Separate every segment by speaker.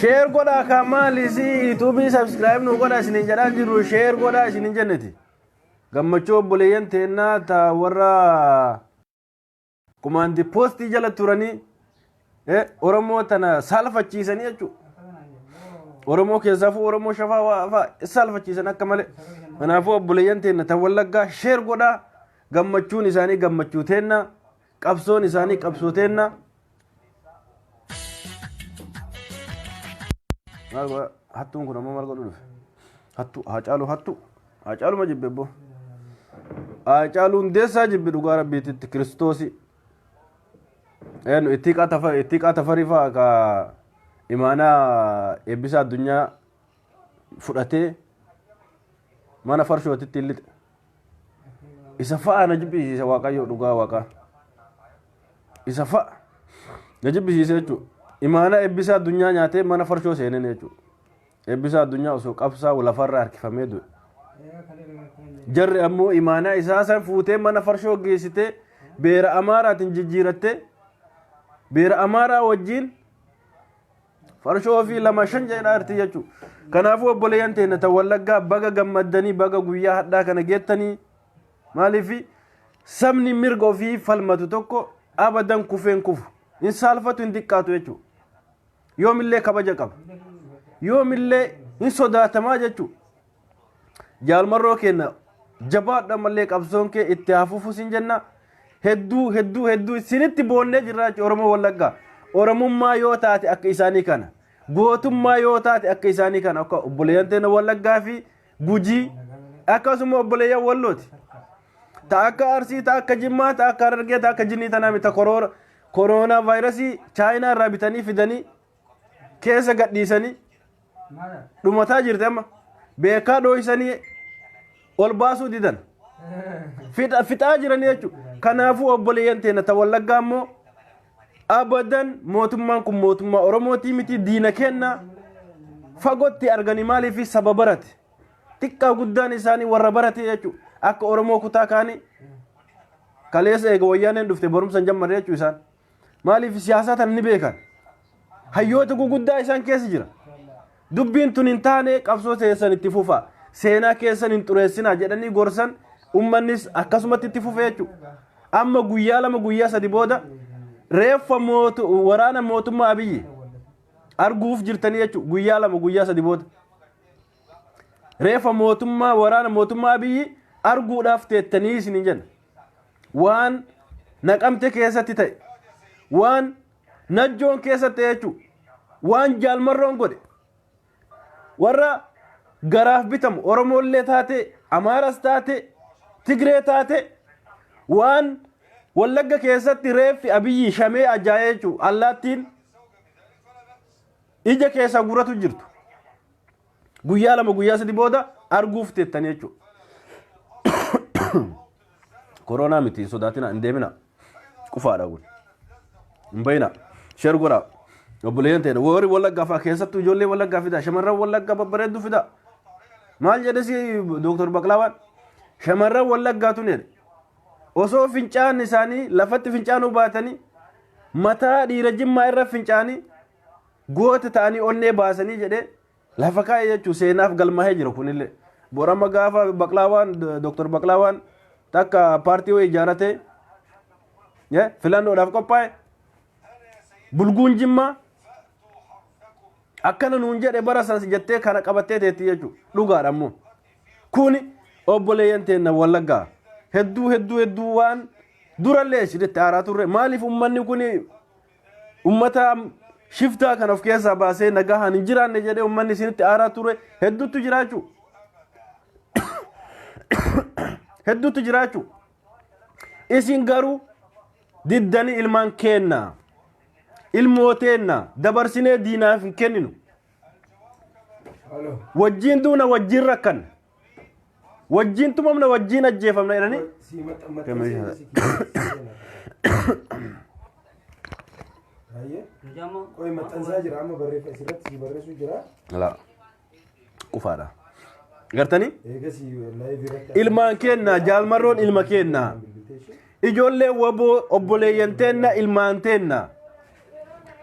Speaker 1: sheer godhaa kan maali si yuutuubii sabskiraayib nu godha isinin jedhaa jirru sheer godhaa isinin jenneti gammachuu obboleeyyan teennaa ta warra Kumaandi poostii jala turanii eh, Oromoo tana saalfachiisanii jechuudha. Oromoo keessaafuu Oromoo shafaa waa fa'aa saalfachiisan akka malee. Kanaafuu obboleeyyan teenna tan wallaggaa sheer godhaa gammachuun isaanii gammachuu teenna qabsoon isaanii qabsoo teenna Maal godha? Hattuun kun ammoo maal godhu dhufe? Hattuu, haacaaluu hattuu. Haacaaluma jibbe abboo. Haacaaluu hundeessaa jibbe dhugaa rabbiitti itti kiristoosii. Eenyu itti hiiqaa tafa itti hiiqaa tafarii fa'a ka imaanaa eebbisaa addunyaa fudhatee mana farshootitti hin lixe. isa fa'a na jibbisiise waaqayyo dhugaa waaqaa isa fa'a na jibbisiise jechuudha imaana eebbisaa addunyaa nyaatee mana farshoo seeneen jechuudha eebbisaa addunyaa osoo qabsaa lafarra harkifamee du'e jarri ammoo imaanaa isaa san fuutee mana farshoo geessitee beera amaaraatiin jijjiirattee beera amaaraa wajjiin farshoo ofii lama shan jedhaa irti jechuu kanaafuu obboleeyyan teenya ta wallaggaa baga gammaddanii baga guyyaa hadhaa kana geettanii maaliif sabni mirga ofii falmatu tokko abadan kufeen kufu hin saalfatu hin xiqqaatu jechuu yoomillee kabaja qaba yoomillee hin sodaatamaa jechuu Jaal Marroo keenya jabaadhu ammallee qabsoon kee itti haa fufu sin jenna. Hedduu hedduu hedduu isinitti boonnee jirra jechuudha Oromoo Wallaggaa. Oromummaa yoo taate akka isaanii kana. Gootummaa yoo taate akka isaanii kana akka obboleeyyan teenya Wallaggaa fi Gujii akkasuma obboleeyyan Wallooti. Ta akka Arsii, ta akka Jimmaa, ta akka Harargee, ta akka Jinnii tanaa miti koroona vaayirasii Chaayinaa irraa bitanii fidanii keessa gadhiisanii dhumataa jirti amma beekaa dhooysanii ol baasuu didan Fixa- fixaa jiran jechuudha kanaafuu obboleeyyan teenya ta wallaggaa immoo abadan mootummaan kun mootummaa oromootii miti diina kenna fagootti arganii maaliif saba barate xiqqaa guddaan isaanii warra barate jechuudha akka oromoo kutaa kaanii kaleessa eega wayyaaneen dhufte barumsa hin jammarre jechuudha isaan maaliif siyaasaa tana ni beekan hayyoota guguddaa isaan keessa jira dubbiin tun hin taane qabsoo teessan itti fufa seenaa keessan hin xureessinaa jedhanii gorsan ummannis akkasumatti itti fufe jechuudha amma guyyaa lama guyyaa sadi booda reeffa mootu- waraana mootummaa abiyyi arguuf jirtanii jechuudha guyyaa lama guyyaa sadi booda reeffa mootummaa waraana mootummaa abiyyi arguudhaaf teettanii isin hin jenna waan naqamte keessatti ta'e waan najjoon keessatti ta'e jechuudha. waan jaalmarroon godhe warra garaaf bitamu oromoollee taate amaaras taate tigree taate waan wallagga keessatti reeffi abiyyi shamee ajaa'ee jechuudha allaattiin ija keessa guratu jirtu Guyyaa lama guyyaa sadi booda arguuf teettanii jechuudha. Koronaa miti hin sodaatina hin deemina. Qufaadha kun. Hin bayina. Sheer godhaa. Obboleeyyan ta'edha. Warri wallaggaa fa'aa keessattuu ijoollee wallaggaa fidaa. Shamarran wallaggaa babbareedduu fidaa. Maal jedhe si Dooktar Baqlaawaan? Shamarran wallaggaa tun jedhe. Osoo fincaan isaanii lafatti fincaanuu baatanii mataa dhiira jimmaa irra fincaanii Goota ta'anii onnee baasanii jedhee lafa kaa'e jechuun seenaaf galmaa'ee jira kunillee. Borama gaafa Baqlaawaan Dooktar Baqlaawaan takka paartii wayii ijaarratee filannoodhaaf qophaa'e bulguun jimmaa akkana nuun jedhe bara sanas jettee kana qabattee teetti jechuudha. Dhugaadha immoo. Kuni obboleeyyan teenna wallaggaa hedduu hedduu hedduu waan durallee isinitti aaraa turre maaliif uummanni kuni ummataa shiftaa kan of keessaa baasee nagahaan hin jiraanne jedhee ummanni isinitti aaraa ture hedduutu jiraachu hedduutu jiraachu isin garuu diddanii ilmaan keenna ilmoo teenna dabarsinee diinaaf hin kenninu wajjiin duuna wajjiin rakkanna Wajjiin tumamna wajjiin ajjeefamna jedhanii. Sii maxxanmattee Gamee seenaa si Baay'ee.
Speaker 2: Qoy maxxansaa jira amma barreeffa asirratti si barreessu jira. Laa.
Speaker 1: Qufaadha. Gartanii? Eegas laayivii irratti. Ilmaan keenna jaalmarroon ilma keenna. Ijoollee waboo obboleeyyan teenna ilmaan teenna.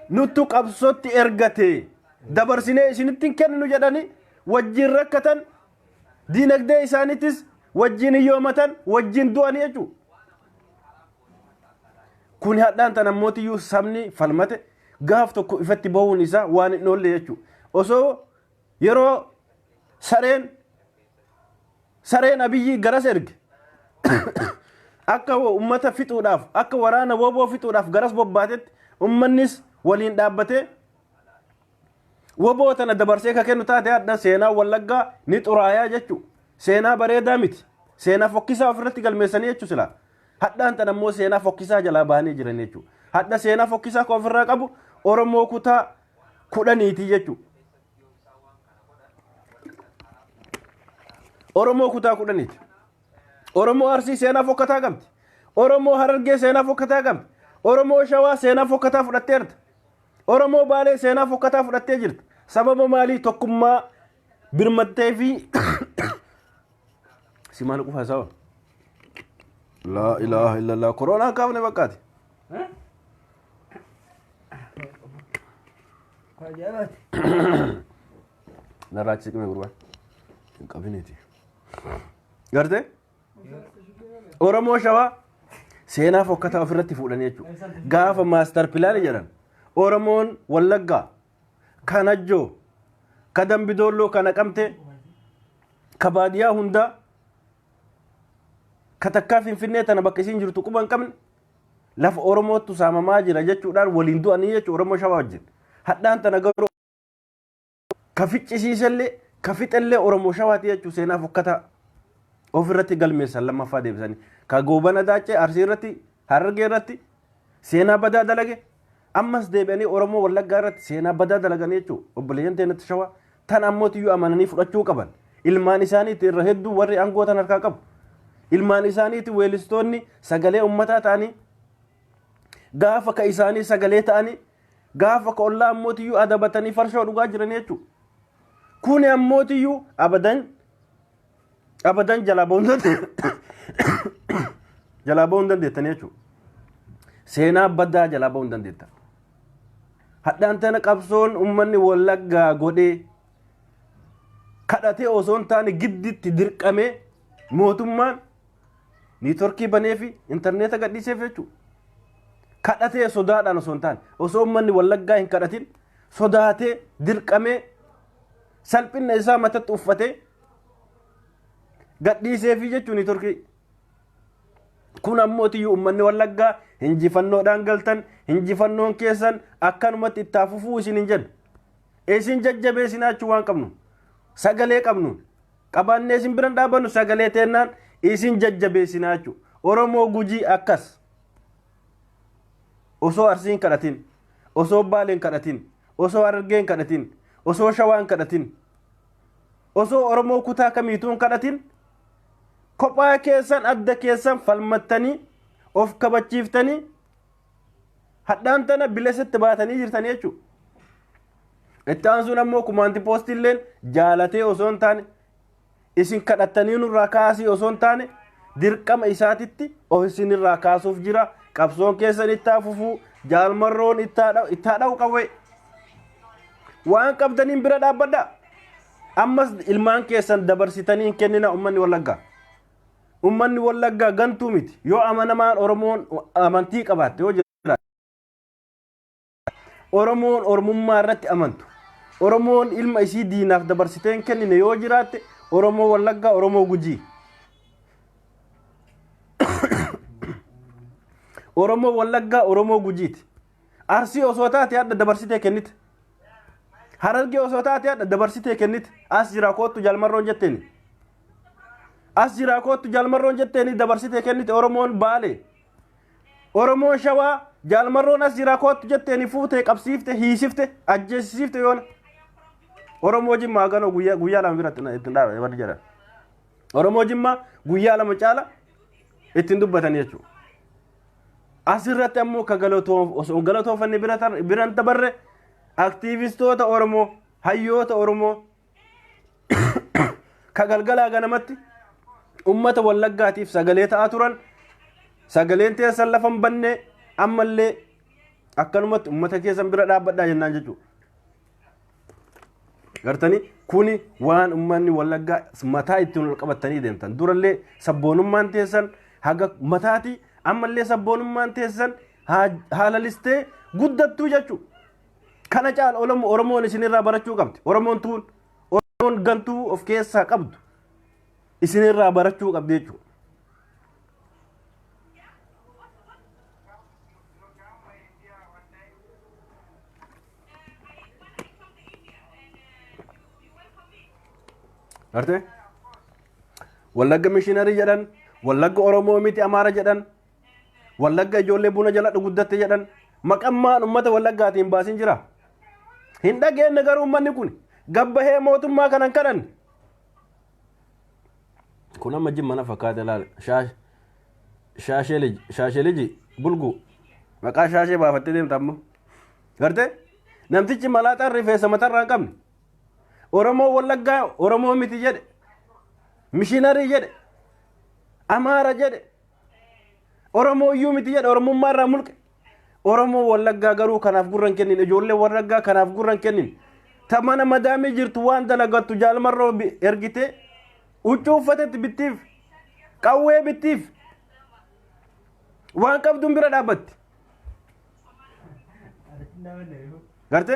Speaker 1: Nuttu qabsootti ergate dabarsinee isinitti hin kenninu jedhanii wajjin rakkatan, diinagdee isaaniitis wajjin hiyyoomatan, wajjin du'an jechuudha. Kun hadhaan tan ammootiyyuu sabni falmate gaaf tokko ifatti bahuun isaa waan hin oolle jechuudha. Osoo yeroo sareen sareen abiyyii garas erge akka ummata fixuudhaaf akka waraana woboo fixuudhaaf garas bobbaatetti ummannis waliin dhaabbatee Waboo tana dabarsee ka kennu taate hadha seenaa wallaggaa ni xuraayaa jechu. Seenaa bareedaa miti. Seenaa fokkisaa ofirratti galmeessanii jechu sila. Hadhaan tana immoo seenaa fokkisaa jalaa bahanii jiran jechu. Hadha seenaa fokkisaa ka ofirraa qabu Oromoo kutaa kudhaniitii jechu. Oromoo kutaa kudhaniiti. Oromoo Arsii seenaa fokkataa qabdi. Oromoo Harargee seenaa fokkataa qabdi. Oromoo Shawaa seenaa fokkataa fudhatteerta. Oromoo Baalee seenaa fokkataa fudhattee jirta. Sababa maalii tokkummaa birmattee fi si maal qufa hasawa? Laa ilaaha illallah koroonaa kaafne bakkaati. Narraa achi siqime gurbaa. Hin qabiniti. Gartee? Oromoo shawaa seenaa fokkataa ofirratti fuudhan jechuudha. Gaafa maastar pilaanii jedhan Oromoon Wallaggaa kan Ajjoo ka Dambidoolloo ka Naqamtee ka baadiyaa hundaa ka takkaa Finfinnee tana bakka isiin jirtu quba hin qabne lafa Oromootu saamamaa jira jechuudhaan waliin du'anii jechuudha Oromoo shawaa wajjin. Hadhaan tana garuu ka ficcisiisellee ka fixellee Oromoo Shawaati jechuun seenaa fokkataa ofirratti galmeessan lammaffaa deebisanii ka goobana daacee arsii irratti harargee irratti seenaa badaa dalage ammas deebi'anii Oromoo Wallaggaa irratti seenaa badaa dalagan jechuun obboleeyyan teenatti shawaa tan ammootiyyuu amananii fudhachuu qaban ilmaan isaaniitti irra hedduu warri aangoo tan harkaa qabu ilmaan isaaniitti weelistoonni sagalee ummataa ta'anii gaafa ka isaanii sagalee ta'anii Gaafa ka ollaa ammootiyyuu adabatanii farshoo dhugaa jiran jechuu. Kuni ammootiyyuu abadan abadan jalaa ba'uu hin dandeettan. Jalaa ba'uu hin dandeettan jechuu. Seenaa badaa jalaa ba'uu hin dandeettan. Hadhaan tana qabsoon uummanni wallaggaa godhee kadhatee osoo hin taane gidditti dirqamee mootummaan Niitworkii banee fi intarneeta gadhiiseef jechuudha. Kadhatee sodaadhaan osoo hin taane osoo uummanni wallaggaa hin kadhatin sodaatee dirqamee salphina isaa matatti uffatee gadhiisee fi jechuun niitworkii. Kun ammoo iyyuu uummanni wallaggaa injifannoodhaan galtan injifannoon keessan akkanumatti itti haa fufuu isin hin jennu. Isin jajjabeessinaa jechuu waan qabnu sagalee qabnuun. qabaannee isin biran dhaabannu sagalee teennaan isin jajjabeessinaa jechuudha. Oromoo gujii akkas osoo arsiin kadhatin osoo baaleen kadhatin osoo harargeen kadhatin osoo shawaan kadhatin osoo oromoo kutaa kamiituun kadhatin kophaa keessan adda keessan falmattanii of kabachiiftanii hadhaan tana bilesatti baatanii jirtan jechuudha. Itti aansuun ammoo kumaanti poostiilleen jaalatee osoo hin taane isin kadhattanii nurraa kaasii osoo hin taane dirqama isaatitti of isinirraa kaasuuf jira qabsoon keessan ittaa fufuu jaalmarroon ittaa dha'u qawwee waan qabdaniin bira dhaabbadha ammas ilmaan keessan dabarsitanii hin kennina ummanni wallaggaa. Ummanni Wallaggaa gantuu miti. Yoo amanamaan Oromoon amantii qabaatte yoo jiraate. Oromoon Oromummaa irratti amantu. Oromoon ilma isii diinaaf dabarsitee hin kennine yoo jiraatte Oromoo Wallaggaa Oromoo Gujii. Oromoo Wallaggaa Oromoo Gujiiti. Arsii osoo taate hadha dabarsitee kennite. Harargee osoo taate hadha dabarsitee kennite. As jira koottu jalmarroon jetteeni. As jira koottu jalmarroon jetteeni dabarsitee kennite Oromoon baale. Oromoon shawaa jalmarroon as jira koottu jetteeni fuutee qabsiifte hiisifte ajjeesisiifte yoona. Oromoo jimmaa ganoo guyyaa guyyaa lama biratti na- ittiin dhaabate warri jedhan. Oromoo jimmaa guyyaa lama caala ittiin dubbatan jechuudha. Asirratti ammoo ka galatoof osoo galatoofanne bira tar- bira hin dabarre aktiivistoota Oromoo, hayyoota Oromoo ka galgalaa ganamatti ummata wallaggaatiif sagalee ta'aa turan sagaleen teessan lafa hin banne ammallee akkanumatti ummata keessan bira dhaabbadhaa jennaan jechuudha. gartanii kuni waan ummanni wallaggaa mataa ittiin ol qabatanii deemtan durallee sabboonummaan teessan haga mataati ammallee sabboonummaan teessan haalalistee guddattuu jechuu kana caala olomo oromoon isinirraa barachuu qabdi oromoon tuun oromoon gantuu of keessaa qabdu isinirraa barachuu qabdi jechuu Gartee? Wallagga mishiinarii jedhan, wallagga Oromoo miti Amaara jedhan, wallagga ijoollee buna jala guddatte jedhan, maqammaan uummata wallaggaatiin baasin jira. Hin dhageenye garuu uummanni kun gabbahee mootummaa kanan kadhanne. Kun amma jimma na fakkaate laal. Shaash- Shaashee liji, shaashee liji, bulguu. Maqaa shaashee baafattee deemta amma. Gartee? Namtichi malaaxaan rifeensa matarraa hin qabne. Oromoo Wallaggaa Oromoo miti jedhe. Mishinarii jedhe. Amaara jedhe. Oromoo iyyuu miti jedhe Oromummaa irraa mulqe. Oromoo Wallaggaa garuu kanaaf gurran kennin ijoollee Wallaggaa kanaaf gurran kennin. Ta mana madaamii jirtu waan dalagattu jaalmarroo bi- ergitee huccuu uffatetti bittiif qawwee bittiif waan qabduun bira dhaabbatti. garte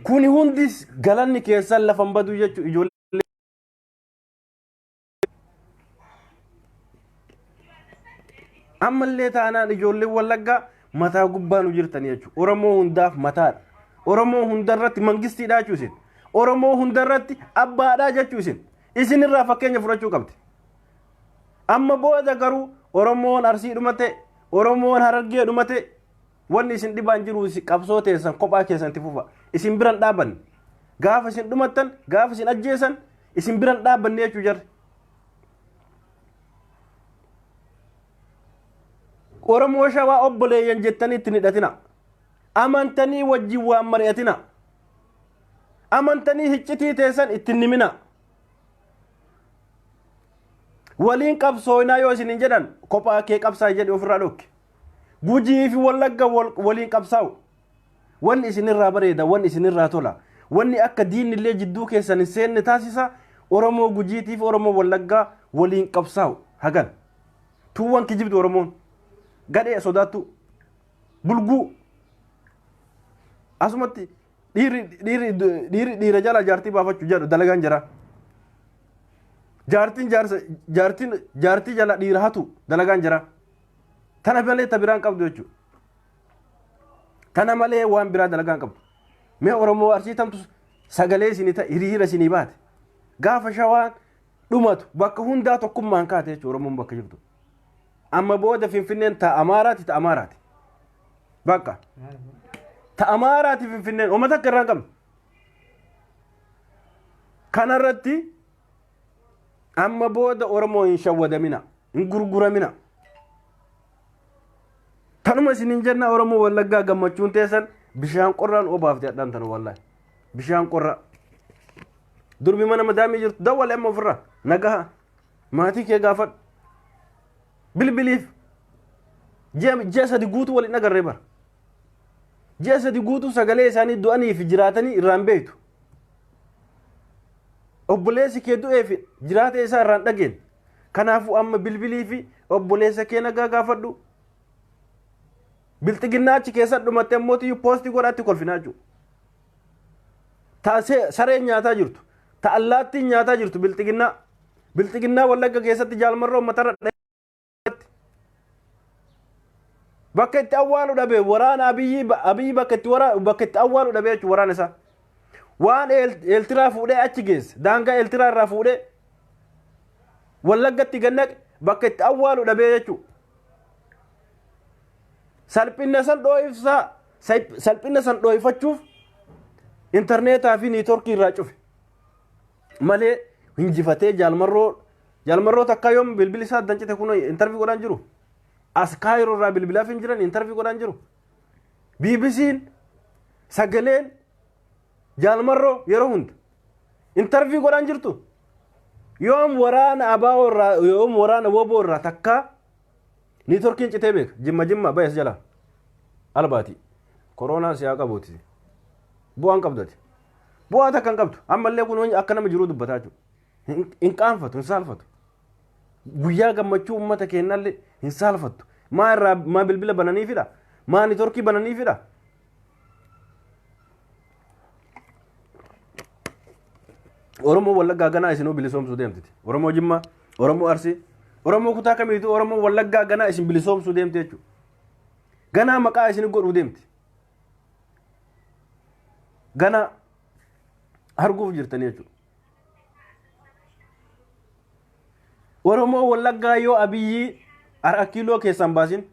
Speaker 1: kuni hundi galanni keessan lafa hin badu jechuun ijoollee ammallee taanaan ijoolleen wallaggaa mataa gubbaa nu jirtan jechuudha. Oromoo hundaaf mataadha. Oromoo hundarratti mangistiidha jechuudha isin. Oromoo hundarratti abbaadha jechuudha isin. Isinirraa fakkeenya fudhachuu qabdi. Amma booda garuu Oromoon Arsii dhumate, Oromoon Harargee dhumate wanni isin dhibaa hin jiru qabsoo teessan kophaa keessan itti fufa. Isin biran dhaabanne. Gaafa isin dhumattan, gaafa isin ajjeesan isin biran dhaabanne jechuu jarri. Oromoo shawaa obboleeyyan jettanii itti hin hidhatina. Amantanii wajjin waan mari'atina. Amantanii hiccitii teessan itti hin himina. waliin qabsooynaa yoo isinin jedhan kophaa kee qabsaa'i jedhi ofirraa dhokke gujii fi wallagga waliin qabsaa'u wanni isinirraa bareeda wanni isinirraa tola wanni akka diinillee jidduu keessan hin seenne taasisa oromoo gujiitii fi oromoo wallaggaa waliin qabsaa'u hagan tuuwwan kijibdu oromoon gadhee sodaattu bulguu asumatti Dhiirri dhiirri dhiirri dhiira jala jaartii baafachuu jedhu dalagaan jira. Jaartiin jaarsa jaartiin jaartii jala dhiira hatu dalagaan jira. Tana malee ta biraan qabdu jechuudha. Tana malee waan biraa dalagaan qabdu. Mee Oromoo arsii tamtu sagalee isinii ta hiriira isinii baate. Gaafa shawaan dhumatu bakka hundaa tokkummaan kaate jechuudha Oromoon bakka jirtu. Amma booda Finfinneen ta Amaaraati ta Amaaraati. Bakka. Ta Amaaraati Finfinneen uummata akka irraa hin qabne. Kanarratti amma booda Oromoo hin shawwadamina, hin gurguramina. Tanuma isin hin jenna Oromoo Wallaggaa gammachuun teessan bishaan qorraan obaafte hadhaan tanu wallahi. Bishaan qorraa. Durbi mana madaamii jirtu dawwale amma ofirraa nagaha maatii kee gaafadhu. Bilbiliif ji'a ji'a sadi guutuu wal hin agarre bara. Ji'a sadi guutuu sagalee isaanii du'anii fi jiraatanii irraa hin beektu. Obboleessi kee du'ee fi jiraata isaa irraa hin dhageenye. Kanaafuu amma bilbilii fi obboleessa kee nagaa gaafadhu. Bilxiginnaa achi keessa dhumattee immoo tiyyuu poostii godhaatti kolfinaa jiru. Ta se- sareen nyaataa jirtu. Ta allaattiin nyaataa jirtu bilxiginnaa. Bilxiginnaa Wallagga keessatti jaalmarra uummatarra dhaheetti. Bakka itti awwaalu dhabe waraana Abiyyi Abiyyi bakka itti wara bakka itti awwaalu dhabe jechuun waraana isaa. Waan Eeltiraa fuudhee achi geesse daangaa Eeltiraa irraa fuudhee Wallaggatti gannaqe bakka itti awwaalu dhabee jechuudha. Salphina san dhoo'ifsaa salphina san dhoo'ifachuuf intarneetaa fi niitoorkii irraa cufe. malee hinjifatee jaalmarroo jaalmarroo takka yoom bilbili isaa addan cite kun intarvii godhaan jiru as kaayiroo irraa bilbilaaf hin jiran intarvii godhaan jiru BBC'n sagaleen jaalmarroo yeroo hunda intarvii godhaan jirtu yoom waraana abaa'oo irraa yoom waraana woboo irraa takka Niitworkiin citee beeka. Jimma jimma bayas jala. Albaati. Koroonaa siyaa qabuuti. Bu'aan qabdati. Bu'aa takka hin qabdu. Ammallee kun wani akka nama jiruu dubbataa jiru. Hin hin qaanfatu, hin saalfatu. Guyyaa gammachuu uummata keennallee hin saalfattu. Maa irraa maa bilbila bananiifidha? Maa niitworkii bananiifidha? Oromoo Wallaggaa ganaa isinuu bilisoomsuu deemtiti. Oromoo Jimmaa, Oromoo Arsii, Oromoo kutaa kamiitu Oromoo Wallaggaa ganaa isin bilisoomsuu deemti jechuudha. Ganaa maqaa isin godhuu deemti. Ganaa arguuf jirtanii jechuudha. Oromoo Wallaggaa yoo Abiyyii har'a kiiloo keessaan baasin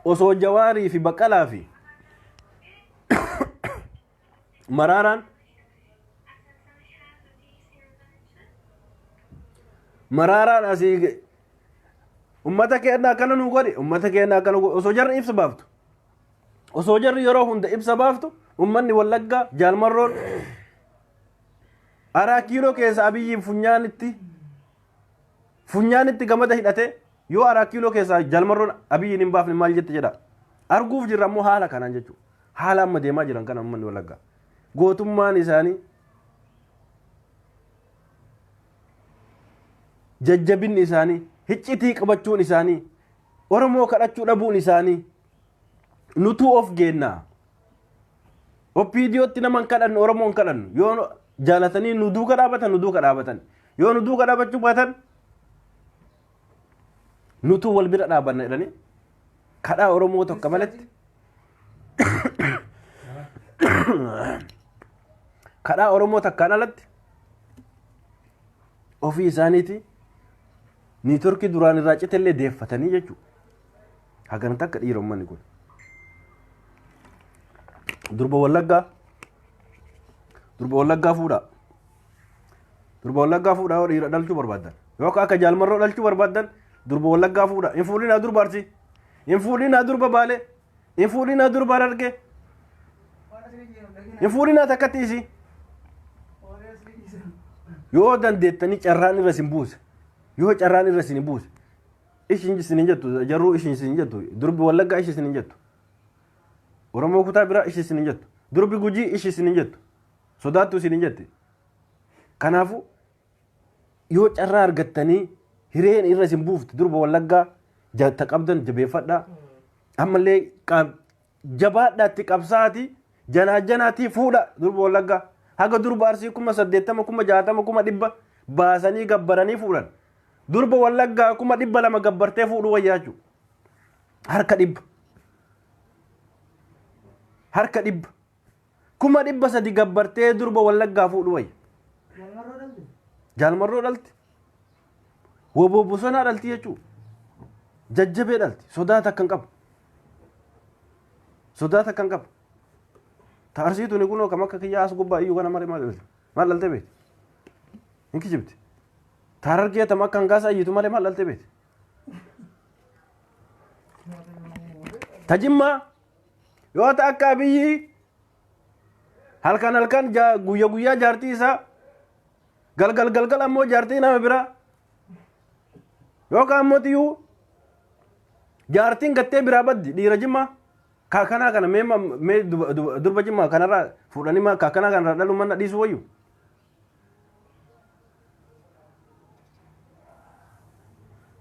Speaker 1: osoo jawaarii fi baqqalaa fi maraaraan maraaraan asii ge- ummata keenya akkana nu godhe ummata keenya akkana godhe osoo jarri ibsa baaftu osoo jarri yeroo hunda ibsa baaftu ummanni wallaggaa jaalmarroon araa kiiloo keessa abiyyiin funyaanitti funyaanitti gamada hidhatee yoo araat kiiloo keessaa jaalmarroon abiyyiin hin baafne maal jette jedha arguuf jirra ammoo haala kanaan jechuudha haala amma deemaa jiran kana uummanni walaggaa gootummaan isaanii jajjabinni isaanii hiccitii qabachuun isaanii oromoo kadhachuu dhabuun isaanii nutuu of geennaa OPDOtti nama hin kadhannu Oromoo hin kadhannu yoo jaalatanii nu duuka dhaabatan nu duuka dhaabatan yoo nu duuka dhaabachuu baatan nutuu wal bira dhaabanna jedhanii kadhaa Oromoo tokko maletti kadhaa Oromoo takkaan alatti ofii isaaniiti niitorkii duraan irraa citellee deeffatanii jechuudha. Hagana takka dhiira ummanni kun. Durba wallaggaa. Durba wallaggaa fuudhaa. Durba wallaggaa fuudhaa yoo dhiira dhalchuu barbaaddan. Yookaan akka jaalmarroo dhalchuu barbaaddan durba wallaggaa fuudhaa. Hin fuudhinaa durba arsii. Hin fuudhinaa durba baalee. Hin fuudhinaa durba harargee. Hin fuudhinaa takkatti isii. Yoo dandeettanii carraan irra isin buuse. Yoo carraan irra isin buuse. Ishin isin hin jettu jarruu ishin isin hin jettu durbi wallaggaa ishi isin hin jettu oromoo kutaa biraa ishi isin hin jettu durbi gujii ishi isin hin jettu sodaattu isin hin jetti kanaafu yoo carraa argattanii hireen irra isin buufte durba wallaggaa jatta qabdan jabeeffadhaa ammallee qaab Jabaadhaa itti qabsaa'aatii janaa janaatii fuudha durba Wallaggaa. Haga durba Arsii kuma saddeettama kuma jaatama kuma dhibba baasanii gabbaranii fuudhan. Durba Wallaggaa kuma dhibba lama gabbartee fuudhuu wayyaa jechuudha. Harka dhibba. Harka dhibba. Kuma dhibba sadi gabbartee durba wallaggaa fuudhu wayya. Jaalmarroo dhalti. Woboo bosonaa dhalti jechuudha. Jajjabee dhalti. Sodaa takka hin qabu. Sodaa takka hin qabu. Ta arsiituun kun akkam akka kiyyaa as gubbaa iyyuu kana malee maal dhalte? Maal dhalte beekti? Hin kijibti. Ta harargee tam akka hangaasa iyyitu malee maal dhalte beekti? Ta jimmaa yoo ta akka abiyyi halkan halkan ja- guyya guyyaa jaartii isaa galgal galgal ammoo jaartii nama biraa yookaan ammoo tiyuu jaartiin gattee biraa baddi dhiira jimmaa kaakanaa kana mee ma- mee duba- duba- durba jimmaa kanarraa fuudhanii ma- kaakanaa kanarraa dhaluu manna dhiisuu wayyu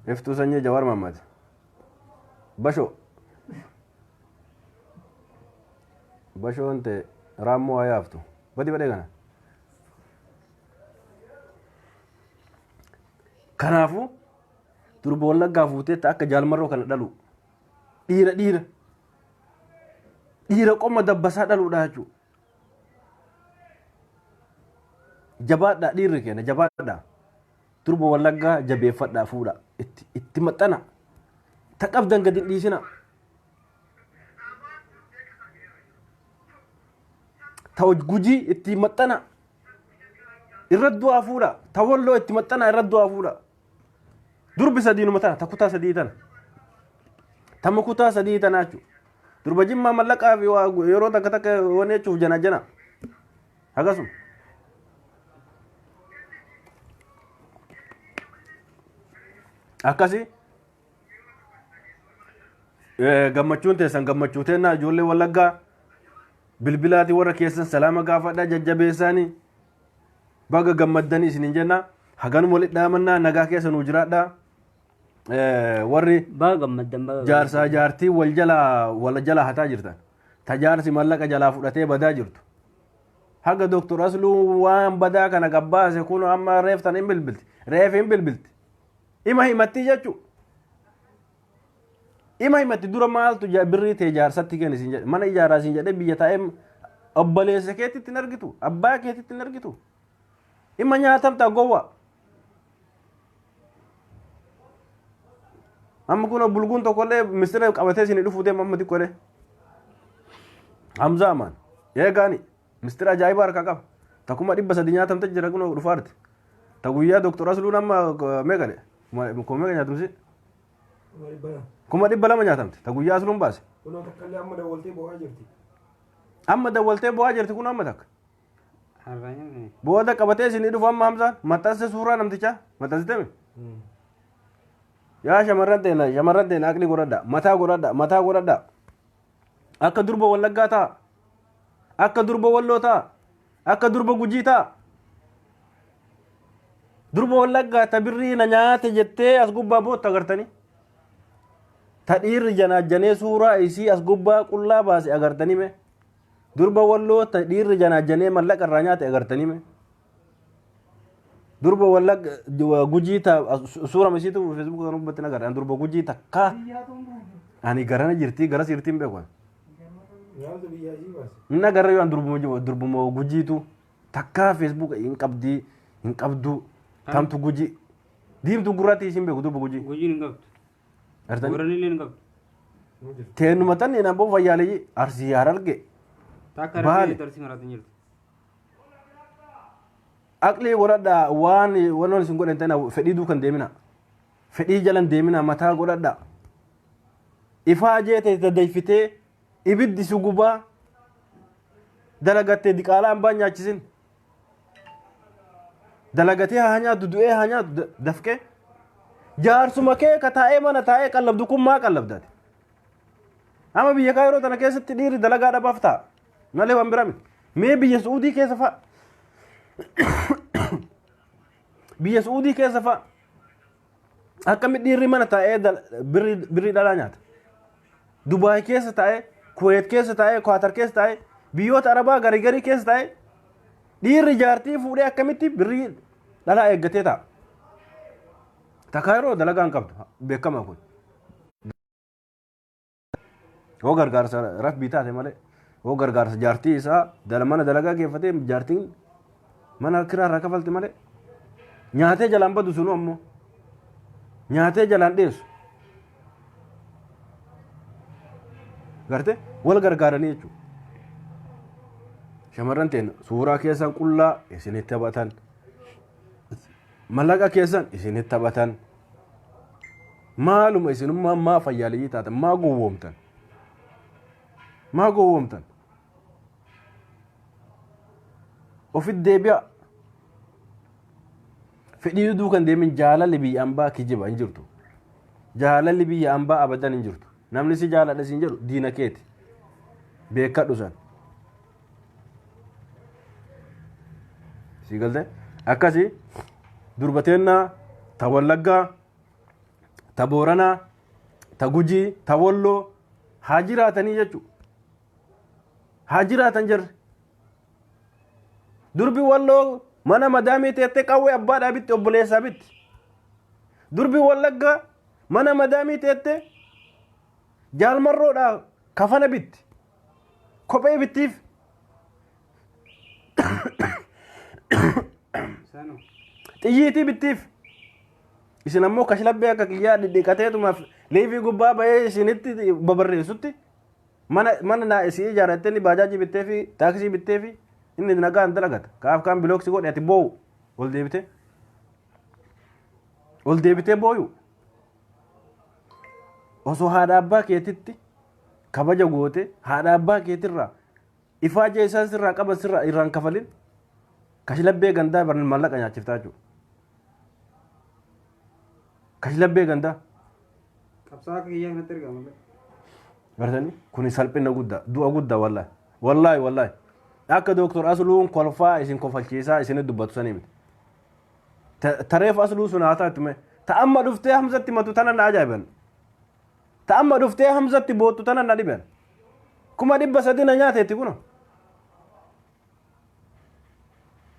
Speaker 1: Iftuu sanyii Jawaar Mahammad. Bashoo. Bashoon tee raammoo haa yaaftu. Badi badee kana. Kanaafuu durba wallaggaa fuuteetti akka jaalmarroo kana dhalu. Dhiira dhiira. Dhiira qomma dabbasaa dhaluudha jechuudha. Jabaadhaa dhiirri keenya jabaadhaa. Durba wallaggaa jabeeffadhaa fuudha. Itti, itti maxxana. Ta qabdan gadi hin dhiisina. Ta hoj- gujii itti maxxana. Irra du'aa fuudha. Ta walloo itti maxxana irra du'aa fuudha. Durbi sadiinuma tana ta kutaa sadii tana. Tama kutaa sadii tanaa jechuudha. Durba jimmaa mallaqaa fi waa gu- yeroo takka takka waan jechuuf jana jana. Akkasuma. Akkasi eh, gammachuun teessan gammachuu teennaa ijoollee wallaggaa bilbilaati warra keessan salaama gaafadhaa jajjabeessaanii baga gammaddanii isinin jenna haganuma walitti dhaamannaa nagaa keessa nuu jiraadhaa. eh, warri Baga
Speaker 3: gammaddan baga jaarsaa jaartii wal
Speaker 1: jalaa wal jalaa hataa jirtan ta jaarsi mallaqa jalaa fudhatee badaa jirtu haga doktor asluu waan badaa kana gabbaase kun amma reeftan hin bilbilti reef hin bilbilti ima himattii jechuu ima himatti dura maaltu ja- birrii tee jaarsatti kenni siin jedhe mana ijaaraa siin jedhe biyya taa'ee obboleessa keetitti hin argitu abbaa keetitti hin argitu Imma nyaatamta gowwa. Amma kun bulguun tokkollee mistira qabatee isin dhufuu deema amma xiqqoolee. Hamzaa maan. Eegaani. Mistira ajaa'iba harkaa qaba. Takuma dhibba sadi nyaatamte jira kun dhufaarti. Ta guyyaa doktor Asluun amma meeqale? Kuma meeqa nyaatamsi? Kuma dhibba lama nyaatamte. Ta guyyaa Asluun baase. Kunoo takkallee amma
Speaker 2: dawwaltee bo'aa jirti. Amma
Speaker 1: dawwaltee bo'aa jirti kun amma takka.
Speaker 3: Booda qabatee
Speaker 1: isinii dhufu amma hamsaan maxxanse suuraa namtichaa maxxansitemi. Yaa shamarran teena shamarran teena aqli godhadha mataa godhadha mataa godhadha akka durba wallaggaa ta'a akka durba walloo ta'a akka durba gujii ta'a. Durba wallaggaa ta birrii na nyaate jettee as gubbaa bootta agartanii. Ta dhiirri janaajjanee suuraa isii as gubbaa qullaa baase agartanii mee. Durba walloo ta dhiirri janaajjanee mallaqa irraa nyaate agartanii mee? Durba wallagga gujii ta suura misiitu feesbuuka kan ubbatti nagarra ani durba gujii takka ani garana jirti gara siirtiin beeku ani. Nyaata biyyaa ishii
Speaker 2: baase. Inni agarra yoo ani durbuma
Speaker 1: jiru durbuma gujiitu takka feesbuuka hin qabdi hin qabdu tamtu gujii diimtu gurraatti ishiin beeku durba gujii. Gujiin hin qabdu.
Speaker 3: Gartanii? Booranni
Speaker 1: illee hin qabdu. Ni
Speaker 3: jirti. Teenuma tan hin
Speaker 1: amboo fayyaalee arsii yaar arge Takka Baale.
Speaker 3: rabbi tarsi maraatu
Speaker 1: hin jirtu. aqlii godhadha waan wanoon isin godhan ta'ina fedhii duukan deemina fedhii jalan deemina mataa godhadha ifaa jeete daddeeffitee ibiddi si gubaa dalagattee diqaalaa hambaa nyaachisin dalagatee haa nyaatu du'ee haa nyaatu da- dafqee jaarsuma kee ka taa'ee mana taa'ee qallabdu kun maa qallabdate amma biyya kaa yeroo tana keessatti dhiirri dalagaa dhabaaf ta'a malee waan bira miti mee biyya su'uudii keessa fa'a biyya su'uudii keessa fa'a Akkami dhiirri mana taa'ee birrii dhalaa nyaata. Dubaay keessa taa'ee, Kuweet keessa taa'ee, Kwaatar keessa taa'ee, biyyoota Arabaa garii garii keessa taa'ee dhiirri jaartii fuudhee akkamitti birrii dhalaa eeggatee taa'a. Takkaa yeroo dalagaa hin qabdu beekama kun. Hoo gargaarsa rabbii taate malee hoo gargaarsa jaartii isaa dala mana dalagaa geeffatee jaartiin mana kiraa irraa kafalti malee nyaatee jalaan badu sunu ammoo nyaatee jalaan dheessu. Garte wal gargaaranii jechuudha. Shamarran teena suuraa keessan qullaa isinitti taphatan. Mallaqa keessan isinitti taphatan. Maaluma isinummaan maa fayyaaleyyii taatan maa gowwoomtan? Maa gowwoomtan? Ofit deebi'a. Fedhii duduu kan deemin jaalalli biyya ambaa kijiba hin jirtu. Jaalalli biyya ambaa abadan hin jirtu. Namni si jaaladha siin jedhu diina keeti. Beekadhu san. sii galte akkasi durba teennaa ta wallaggaa ta booranaa ta gujii ta walloo haa jiraatanii jechuu haa jiraatan jirre durbi walloo mana madaamii teettee qawwee abbaadhaa bitti obboleessaa bitti durbi wallaggaa mana madaamii teettee jaalmarroodhaa kafana bitti kophee bittiif Sanu. xiyyiitii bittiif isin ammoo kashlabbee akka kiyyaa dhidhiqateetumaaf liivii gubbaa ba'ee isinitti babarreessutti mana mana naa isii ijaarrattee inni baajaajii bittee fi taaksii bittee fi inni nagaan dalagata kaaf kaan bilooksi godhe ati boo'u ol deebitee ol deebitee boo'u osoo haadha abbaa keetitti kabaja goote haadha abbaa keetirraa ifaaja isaan sirraa qaban sirraa irraan kafalin kashlabbee gandaa barnaan maallaqa nyaachiftaa jechuudha. Kashlabbee gandaa. Qabsaa
Speaker 3: akka kiyyaa
Speaker 1: kanatti erga malee.
Speaker 3: Bartanii
Speaker 1: kun salphina
Speaker 3: guddaa
Speaker 1: du'a
Speaker 3: guddaa
Speaker 1: wallaahi wallaahi wallaahi akka dooktor Asluun kolfaa isin kofalchiisaa isin dubbatu sanii miti. Ta- tareef asluu sun haa taatu mee ta amma dhuftee hamzatti matu tana na ajaa'iban ta amma dhuftee hamzatti boottu tana na dhiban kuma dhibba sadi na nyaateetti kuno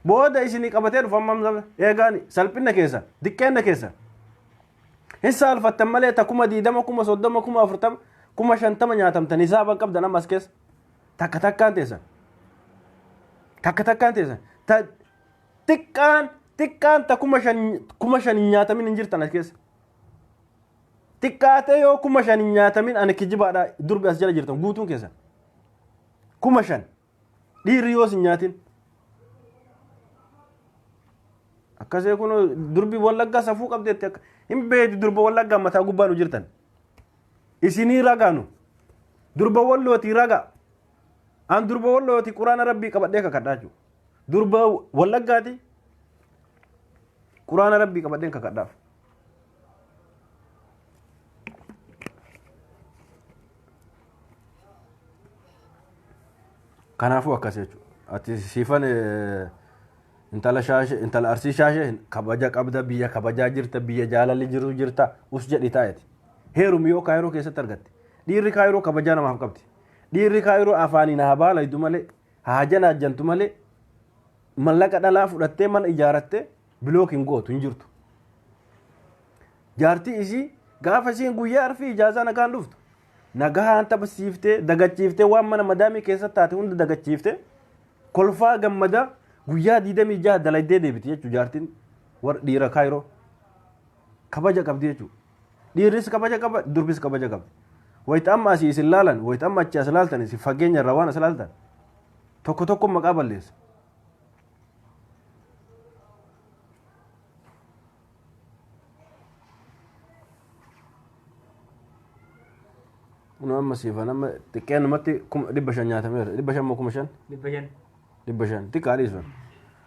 Speaker 1: booda isinii qabatee dhufa amma hamza eegaani salphinna keessa diqqeenna keessa hin saalfattan malee ta kuma diidama kuma soddoma kuma afurtama kuma shantama nyaatamtan hisaaba qabdan ammas keessa takka takkaan teessan takka takkaan teessan ta Xiqqaan xiqqaan ta kuma shan kuma shan hin nyaatamin hin jirtan as keessa. Xiqqaatee yoo kuma shan hin nyaatamin ani kijibaadha durbi as jala jirtan guutuun keessan. Kuma shan dhiirri yoos hin nyaatin. Akkasee kun durbi wallaggaa safuu qabdeetti akka hin beektu durba wallaggaa mataa gubbaa nu jirtan. Isinii ragaanu durba wallootii ragaa An durba wallooti quraana rabbii qabadhee kakadhaa jiru. Durba wallaggaati quraana rabbii qabadheen kakadhaaf. Kanaafuu akkas jechuudha. Ati siifan intala shaashee intala arsii shaashee kabaja qabda biyya kabajaa jirta biyya jaalalli jiru jirta us jedhi taa'eeti. Heerumi yoo kaayiroo keessatti argatte dhiirri kaayiroo kabajaa namaaf qabdi. Dhiirri kaayiroo afaaniin haa baalaydu malee haa janaajjantu malee mallaqa dhalaa fudhattee mana ijaarattee bilookiin gootu hin jirtu. Jaartii isii gaafa isiin guyyaa arfii ijaazaa nagaan dhuftu nagaan taphisiiftee dagachiiftee waan mana madaamii keessatti taate hunda dagachiiftee kolfaa gammadaa guyyaa 26 dalaydee deebiti jechuudha jaartiin warra dhiira kaayiroo kabaja qabdi jechuudha. Dhiirris kabaja qaba, durbis kabaja qabdi. Wayita amma asii isin laalan, wayita amma achi as laaltan isin fageenya irraa waan as laaltan tokko tokko maqaa balleessa. Kun amma siifan amma xiqqeenumatti kuma dhibba shan nyaatameera. Dhibba shan moo kuma shan? Dhibba shan. dhibba shan xiqqaa dhiisan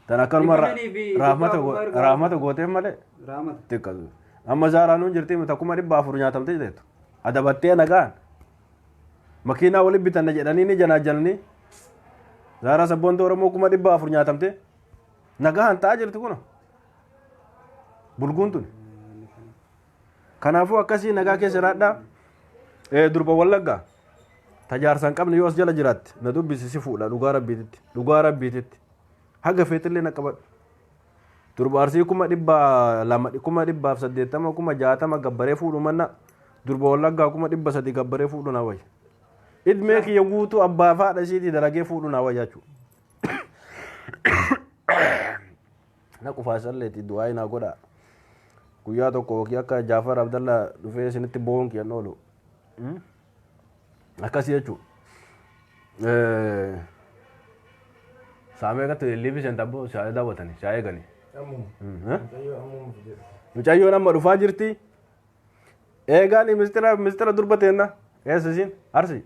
Speaker 1: tan akkanuma Dhibba shanii fi raafmata dhibba afur erga- raafmata gooteen malee Raamata. xiqqa amma zaaraa nuun jirti miti akkuma dhibba afur nyaatamte jettu adabattee nagaan makiinaa waliin bitanna jedhanii ni janaajalanii zaaraa sabboonta oromoo kuma dhibba afur nyaatamte nagaan ta'aa jirti kun bulguun tuni Kanaafuu akkasii nagaa keessa jiraadhaa. Eh, Durba Wallaggaa. Tajaarsa hin qabne yoo as jala jiraatte na dubbisi si fuudha dhugaa rabbiititti. Dhugaa rabbiititti. Haga feetillee na qabadhu. Durba Arsii kuma dhibba lama kuma dhibbaaf saddeettama kuma jaatama gabbaree fuudhu manna durba Wallaggaa kuma dhibba sadi gabbaree fuudhu na wayya. Idmee kiyya guutuu abbaa fi haadha isiitii dalagee fuudhu na wayya jechuudha. na qufaasisalleti du'aayi naa godhaa guyyaa tokko wakii akka jaafar abdalla dhufee isinitti bo'uun kiyyan oolu akkasi jechuu saamee gatti liifi seenta abboo siyaa daawwatani siyaa eegani mucayyoon amma dhufaa jirti eegaani mistira mistira durba teenna eessa isiin arsi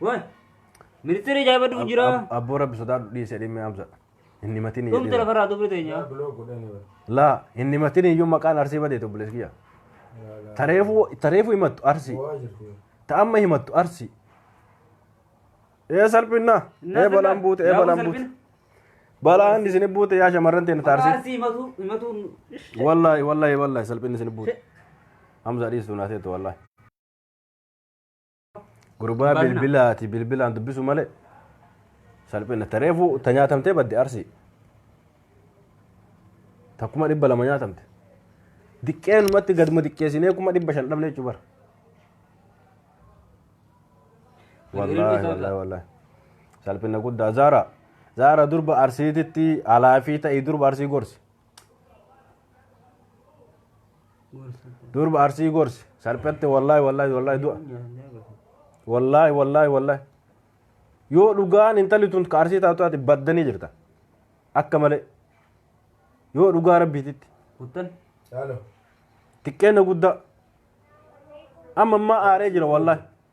Speaker 3: Waan. Ministeera ajaa'ibatu hin jira. Abboo rabbi sodaadhu
Speaker 1: dhiise dhimmi amsa. Inni matiin Dhumti hin lafarraa dubree teenya.
Speaker 3: Biloo
Speaker 1: godhanii bara. Laa inni matiin iyyuu maqaan arsii badee tobbilees kiyya. Tareefuu tareefuu himattu arsii. Waa jirti. Ta'amma himattu arsii. Ee salphinna. Ee balaan buute ee balaan buute. Balaan isin buute yaa shamarran teenya taarsii. Arsii himatu himatu. Wallaahi wallaahi wallaahi salphinni isin buute. Hamza dhiistu naasee tu wallaahi. Gurbaa Baay'ina. bilbilaati bilbilaan dubbisu malee salphina tareefu ta nyaatamtee badde arsii ta kuma dhibba lama nyaatamte diqqeenumatti gaduma diqqeessinee kuma dhibba shan dhabne jechuu bara. Wallaahi wallaahi wallaahi salphina guddaa zaara zaara durba arsiititti alaa fi ta'ii durba arsii gorsi. durba arsii gorsi salphatti wallaahi wallaahi wallaahi du'a wallaahi wallaahi wallaahi yoo dhugaan intalli tun ka arsii taatu ati baddanii jirta akka malee yoo dhugaa rabbiititti xiqqeenya guddaa amma ammaa aaree jira wallaahi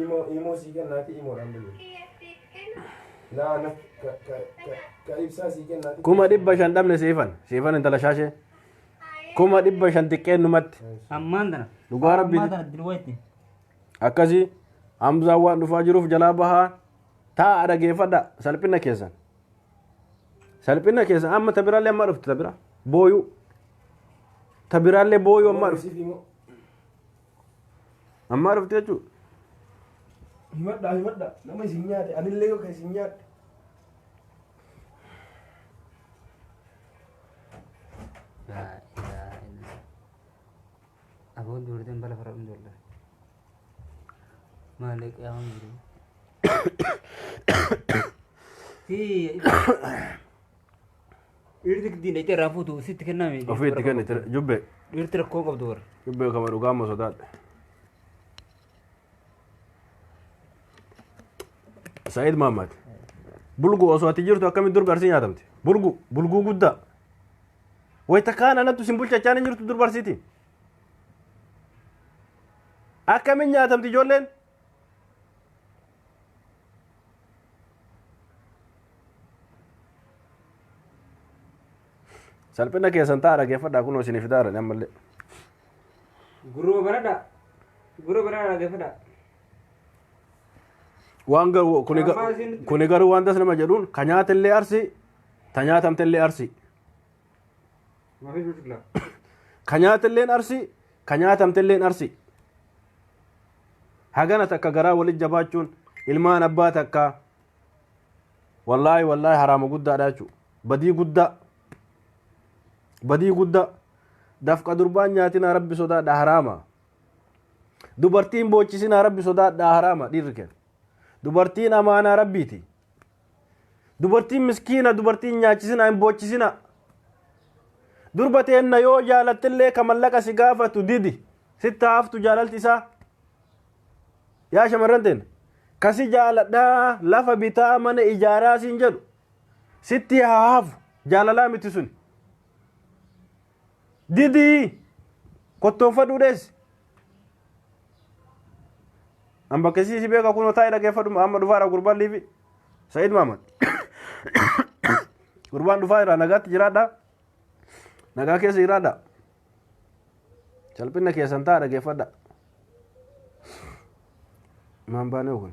Speaker 2: Imo imo sii kennaati imoodhaan bulu. Naa na ka ka ka ka ibsaa sii kennaati. Kuma dhibba shan dhabne siifan.
Speaker 1: Siifan intala shaashee. Kuma dhibba shan xiqqeen numatti. Ammaan tana.
Speaker 3: Dhugaa rabbii. Ammaan tana
Speaker 1: dirwaa itti.
Speaker 3: Akkasii
Speaker 1: Hamzaan waan dhufaa jiruuf jalaa bahaa taa'a dhageeffadha salphina keessan. Salphina keessan amma tabiraallee amma dhufte tabira booyuu. Tabiraallee booyuu amma dhufte. Siif imo. Ammaa dhufte jechuudha. Himadhaa
Speaker 2: himadhaa nama isin nyaate anillee yoo kan isin nyaadhe.
Speaker 3: Laa ilaaha illallah. Aboon dubartiin bala fara dhumtu wallah. Maalee qiyaaman jiru. Tii Dhiirri giddiin dhaqxee irraa fuutu sitti kenname. Ofii itti kennite jubbe.
Speaker 1: Dhiirti rakkoo qabdu
Speaker 3: warra. Jubbe kama dhugaa amma
Speaker 1: sodaadhe. Sa'iid Maammaad. Bulgu osoo ati jirtu akkamitti durba arsii nyaatamte? Bulgu bulguu guddaa. Wayita kaan anattu sin bulchachaan hin jirtu durba arsiiti. Akkamiin nyaatamti ijoolleen? salphina keessan ta'a dhageeffadhaa kunoo isinii fidaa jirani ammallee
Speaker 3: Guruma baradha. Guruma baradha dhaggeeffadha.
Speaker 1: waan garuu kuni ga- Ammaa isin- kuni garuu waan tas nama jedhuun ka nyaatillee arsi ta nyaatamtillee arsi
Speaker 3: Maafii biqilaa. ka
Speaker 1: nyaatilleen arsi Ka nyaatamtelleen arsi. Hagana takka garaa walit jabaachuun ilmaan abbaa takkaa wallaahi wallaahi haraama guddaadha jechuu badii guddaa badii guddaa dafqa durbaan nyaatinaa rabbi sodaadha haraama dubartiin boochisinaa rabbi sodaadha haraama dhiirri kenna dubartiin amaanaa rabbiiti Dubartiin miskiina dubartiin nyaachisina hin boochisina. Durba teenna yoo jaalattillee ka mallaqa si gaafatu didi sitti haaftu jaalalti isaa. Yaa shamarran teenna ka si jaaladhaa lafa bitaa mana ijaaraa siin jedhu sitti haafu jaalalaa miti suni. didii kottoonfadhuu dheessi an bakkesii si beeka kunoo taa'ee dhageeffadhu amma dhufaadha gurbaan liifi sa'id maamad gurbaan dhufaa irraa nagaatti jiraadha nagaa keessa jiraadha salphinna keessan ta'a dhageeffadha maan baanee kun